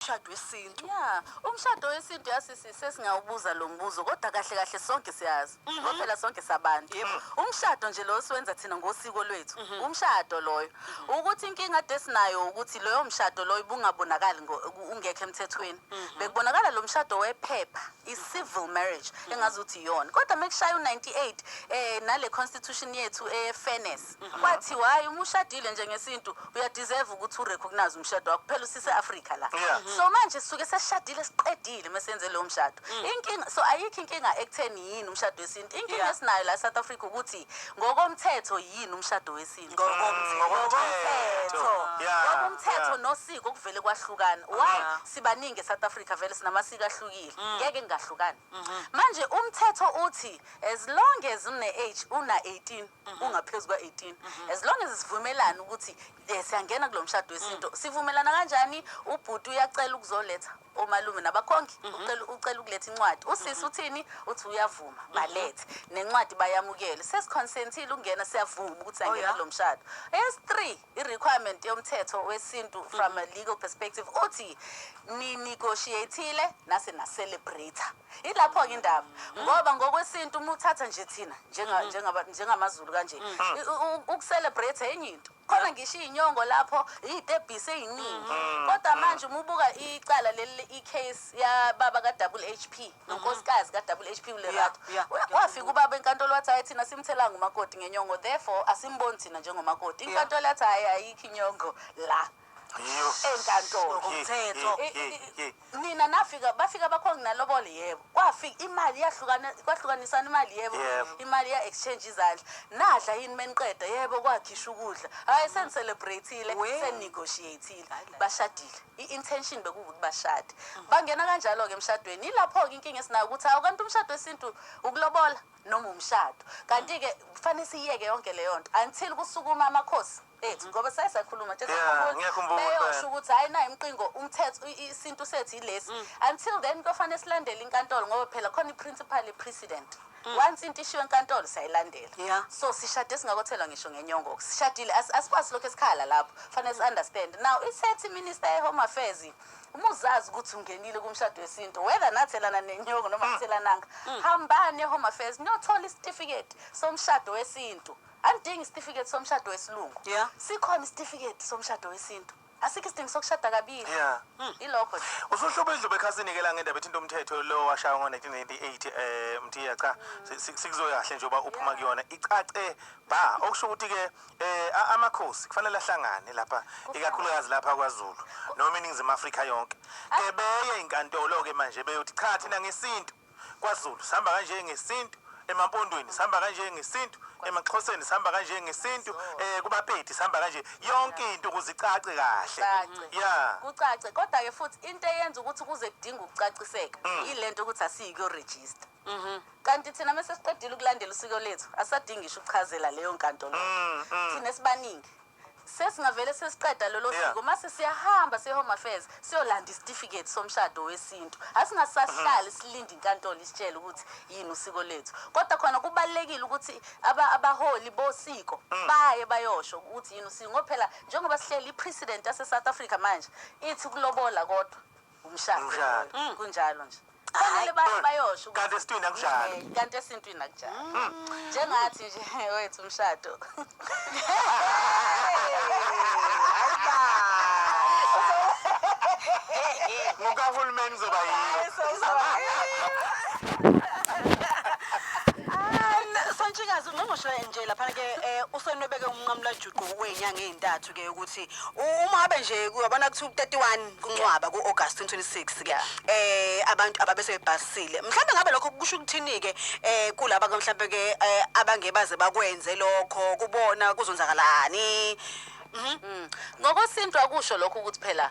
umshado wesintu ya umshado wesintu yasisi sesingawubuza lo mbuzo kodwa kahle kahle sonke siyazi mhm. ngoba phela sonke sabantu umshado nje lo siwenza thina ngosiko lwethu mhm. umshado loyo mhm. ukuthi inkinga ade sinayo ukuthi loyo mshado loyo ubungabonakali ungekho emthethweni bekubonakala lo mshado wephepha i-civil marriage engazi ukuthi iyona kodwa uma kushaya u-98 um eh, nale constitution yethu e-fairness Wathi why uma ushadile nje ngesintu uya deserve ukuthi u recognize umshado wakho phela usise Africa la. Yeah. So manje sisuke sesishadile siqedile mesenze leyo mshado. Inkinga so ayikho inkinga ekutheni yini umshado wesintu. Inkinga Yeah. esinayo la South Africa ukuthi ngokomthetho yini umshado wesintu. Ngokomthetho. Ngokomthetho. Yeah, Ngoba umthetho yeah. nosiko kuvele kwahlukana. Why Yeah. sibaningi eSouth Africa vele sinamasiko ahlukile. Ngeke ngingahlukani. manje umthetho uthi as long as une age una 18 ungaphezulu kwa 18 as long as sivumelana ukuthi eh, siyangena kulomshado wesinto mm. sivumelana kanjani ubhuti uyacela ukuzoletha omalume nabakhongi mhm. ucela ucela ukuletha incwadi usisi mhm. uthini uthi uyavuma mhm. balethe nencwadi bayamukele sesikhonsentile ukungena siyavuma ukuthi oh, angena kulomshado es 3 I requirement yomthetho wesintu from a legal perspective uthi ni negotiatile nase na celebrator. Ilapho ke indaba ngoba ngokwesintu uma uthatha nje thina njenga njengaba njengamazulu kanje i- u- u- ukucelebrate enye into. Khona ngisho inyongo lapho izitebhisi eziningi. Kodwa manje uma ubuka icala leli i case ya baba ka double HP nonkosikazi ka-double h p ulerato wafika ubaba enkantolo wathi hhayi thina simthelanga umakoti ngenyongo therefore asimboni thina njengomakoti inkantolo yathi hhayi ayikho inyongo la enkantolo umthetho nina nafika bafika bakho nginalobole yebo kwafika imali yahlukana kwahlukanisana imali yebo imali ya exchange izandla nadla yini meniqeda yebo kwakhisha ukudla hayi senicelebrate-ile seninegotiate-ile bashadile i-intention bekuwukuthi bashade bangena kanjalo-ke emshadweni yilapho-ke inkinga esinayo ukuthi hawu kanti umshado wesintu ukulobola noma umshado kanti-ke kufanele siyiyeke yonke leyo nto until kusukuma amakhosi ethu ngoba saye sakhuluma nje Yeah, sakhumbula, ngiyakhumbula, beyosho impela. ukuthi hayi nayi umqingo umthetho i- i- isintu sethu yilesi until then kuyofanele silandele inkantolo ngoba phela khona i-principal precedent Mm. once into ishiwo enkantolo siyayilandela yeah. so sishade singakothelwa ngisho ngenyongo sishadile asikwazi lokho esikhala lapho fanele si-understand now isethi minister ye-home affairs uma uzazi ukuthi ungenile kumshado wesintu whether nathelana nenyongo noma mm. thelananga mm. hambani e-home affairs niyothola isitifiketi somshado wesintu andidingi isitifiketi somshado wesilungu yeah. sikhona isitifiketi somshado wesintu asikho isidingo sokushada kabili Yeah. Mm, ilokho nje usuhluba idluba ekhasini ke la ngendaba ethinta umthetho lo washaywa ngo-1998 eh mthiya cha si- si- sikuzoya kahle nje uba uphuma kuyona icace ba okusho ukuthi ke eh a- amakhosi kufanele ahlangane lapha ikakhulukazi lapha kwazulu noma iningizimu afrika yonke ke beye inkantolo ke manje beyothi cha thina ngesintu KwaZulu sihamba kanje ngesintu, emaMpondweni sihamba kanje ngesintu, emaXhoseni sihamba kanje ngesintu, eh kubaPedi sihamba kanje. Yonke into ukuze icace kahle. Cace. Yeah. kucace kodwa ke futhi into eyenza ukuthi kuze kudinga ukucaciseka Mm. yilento ukuthi asiyi kuyoregister Mhm. kanti thina mese siqedile ukulandela usiko lethu asadingi isho ukuchazela leyo nkantolo Mm, mm. thina esibaningi sesingavele sesiqeda lolo Yeah. siko mase siyahamba siye-home affairs siyolanda isitifiketi somshado wesintu asingasahlali silinde inkantolo isitshele ukuthi yini usiko lethu kodwa khona kubalulekile ukuthi aba- abaholi bosiko baye bayosho ukuthi yini usiko ngoba phela njengoba sihleli i-president yase-south africa manje ithi ukulobola kodwa umshado Umshado. Mm, kunjalo nje fanele ba- bayosho ukuthi- Kanti esintwini akunjalo. Eh, kanti esintwini akunjalo njengathi nje wethu umshado Ngokahulumeni zoba yiyo. sontshikazi ungqongqoshe nje laphana-ke um usenwebeke umnqamulajuqu wey'nyanga ey'ntathu ke ukuthi uma abe nje uyabona kuthi u-31 kuncwaba ku-August 2026 ke eh abantu ababe sebebhasile mhlawumbe ngabe lokho kusho ukuthini ke eh kulaba ke mhlawumbe ke eh, abangebaze bakwenze lokho kubona kuzonzakalani Mhm. Mm. Ngokosintwa kusho lokho ukuthi phela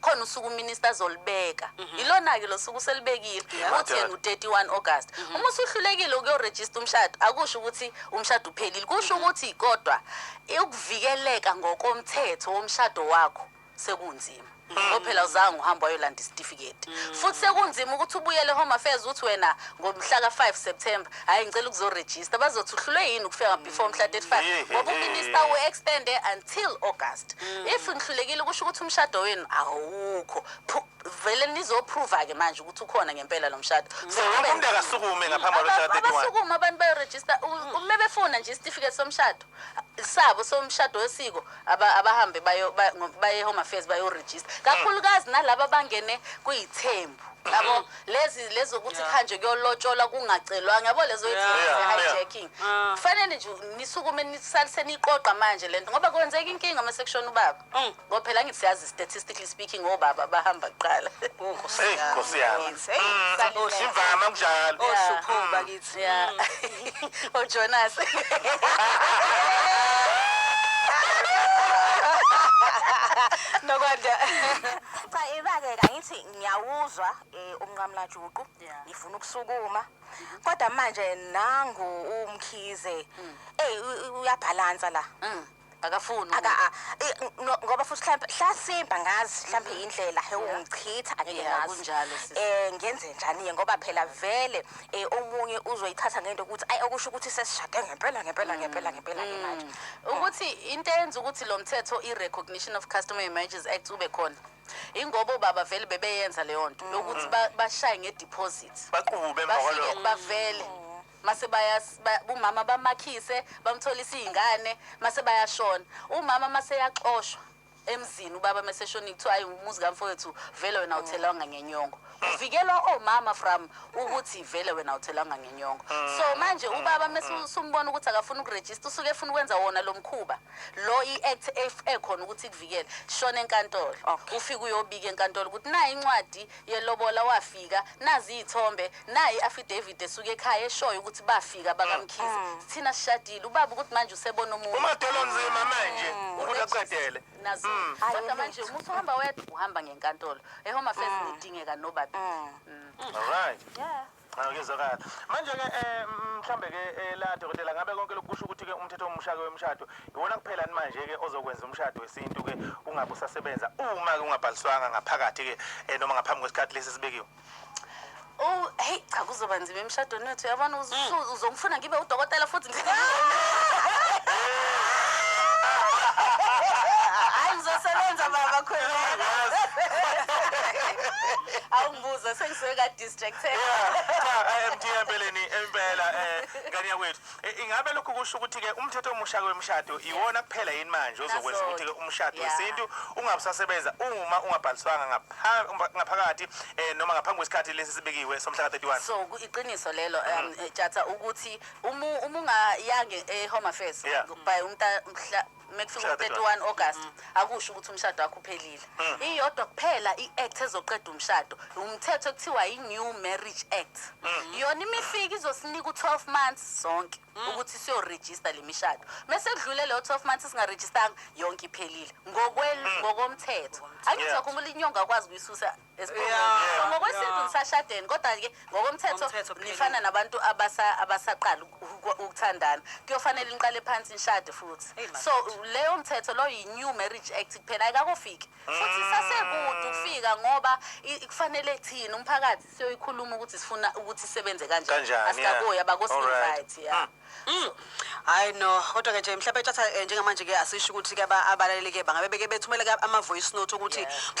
khona usuku uminister azolibeka mhm. yilona-ke lo suku uselibekile uthi yena u-31 august mhm. uma usuhlulekile ukuyorejista umshado akusho ukuthi umshado uphelile kusho mhm. ukuthi kodwa ukuvikeleka ngokomthetho womshado wakho sekunzima ngoba mm. phela uzange uhamba wayolanda isitifiketi mm. futhi sekunzima ukuthi ubuyele home affairs uthi wena ngomhla ka-5 september hayi ngicela ukuzorejista bazothi uhlulwe yini ukufika before mhla 35 ngoba uminista u-extende until august mm. if ngihlulekile kusho ukuthi umshado wenu awukho vele nizoprova-ke manje ukuthi ukhona ngempela lo mshado umuntu akasukume ngaphambi kwalomshado abasukume abantu bayorejista uma befuna nje isitifiketi somshado sabo somshado wesiko aba- abahambe bayo- ba- ngo- baye home affairs bayorejista kakhulukazi nalaba abangene kuyithembu yabo lezi lezi ukuthi Yeah. khanje kuyolotshola kungacelwanga yabo lezo Yeah. Yeah, yeah. hijacking Ah. kufanele nje nisukume nisalise niqoqa manje lento ngoba kwenzeka inkinga uma sekushona ubaba Mm. Ngoba phela ngithi siyazi statistically speaking obaba bahamba kuqala. Oh, Nkosi Hey, yami. Nkosi yami. Yes, hey, Mm, sanele. Simvama kunjalo. Oh, Yeah. shukhu bakithi. Yeah. Oh Jonas. Nokwanda. cha ibake kangithi ngiyawuzwa eh, umnqamlajuqu Yeah. ngifuna ukusukuma kodwa manje nangu umkhize eyi uyabhalansa la Mm. akafuni aka a- i- no- ngoba futhi mhlampe hlasimba ngazi mhlampe indlela he Yeah. ungichitha angeke Yeah, ngazi kunjalo, sis. eh ngenze njani ke ngoba phela vele eh omunye uzoyithatha ngento ukuthi ay okusho ukuthi sesishade ngempela ngempela ngempela ngempela ke manje ukuthi into eyenza ukuthi lo mthetho i-recognition of customer marriages act ube khona ingoba obaba vele bebeyenza leyo nto yokuthi ba- bashaye nge-deposit baqube emva bafike kwalokho bavele mase bayas ba, umama bamakhise bamtholisa izingane mase bayashona umama mase yaxoshwa emzini ubaba meseshoni kuthiwa hayi umuzi kamfowethu vele wena uthelanga ngenyongo kuvikelwa omama from ukuthi vele wena uthelanga ngenyongo so manje ubaba mesumbona ukuthi akafuna ukuregister usuke efuna ukwenza wona lo mkhuba lo i-act ekhona ukuthi kuvikele shona enkantolo ufike uyobika enkantolo ukuthi nayi incwadi yelobola wafika nazi iy'thombe nayi i-affidavit esuke ekhaya eshoyo ukuthi bafika bakamkhize sithina sishadile ubaba ukuthi manje usebona omunye umadolo nzima manje ukuthi aqedele nazo Hayi, kodwa ulate. manje umuthi uhamba wedwa uhamba ngenkantolo ehome affairs nidingeka nobabili Mm. alright Yeah. Cha ngizokala. Manje ke eh mhlambe ke eh, la dokotela ngabe konke lokusho ukuthi ke umthetho omusha ke wemshado iwona kuphela ni manje ke ozokwenza umshado wesintu ke ungabe usasebenza uma ke ungabhaliswanga ngaphakathi ke eh, noma ngaphambi kwesikhathi lesi sibekiwe. Oh, hey cha kuzoba nzima emshadweni wethu yabona uz- Mm. uz- uzongifuna ngibe udokotela futhi ngi- Hayi ngizosebenza baba khwela. Awungibuza sengisuke kade Jektheni. MD empeleni impela eh ngane yakwethu Eh, ingabe lokhu kusho ukuthi ke umthetho omusha kwemshado iwona kuphela yini manje ozokwenza That's ukuthi ke all. umshado Yeah. wesintu ungabusasebenza uma ungabhaliswanga ngapha- umba- ngaphakathi eh noma ngaphambi kwesikhathi lesi sibekiwe somhla ka-31 so ku- iqiniso lelo um Mm-hmm. eh, jatha ukuthi uma uma ungayange e-home affairs Yeah. by umta mhla mekufika Mshado u-31 wani? august akusho ukuthi umshado wakho uphelile iyodwa kuphela i-act ezoqeda umshado umthetho ekuthiwa yi-new marriage act yona imifika izosinika u-12 months sonke ukuthi siyorejista le mishado mese kudlule leyo 12 months singarejistanga yonke iphelile Ngokwel- ngokomthetho angithi Yeah. wakhumbula inyonga akwazi ukuyisusa esiphongweni so ngokwesintu nisashadeni kodwa-ke ngokomthetho Ngomthetho, phela. nifana nabantu abasa- abasaqala uku- ukuthandana kuyofanele niqale phansi nishade futhi Eyi, man. so leyo mthetho loyo yi-new marriage act kuphela ayikakofiki futhi sasekude ukufika ngoba i- kufanele thina umphakathi siyoyikhuluma ukuthi sifuna ukuthi isebenze kanjani Kanjani, yeah. asikaboyi Alright. abakosivite ya Mm. hayi no kodwa ke nje mhlawumbe tshatha eh, njengamanje ke asisho ukuthi ke aba- abalaleli ke bangabe beke bethumele ke ama-voice note ukuthi Yeah. mhlawumbe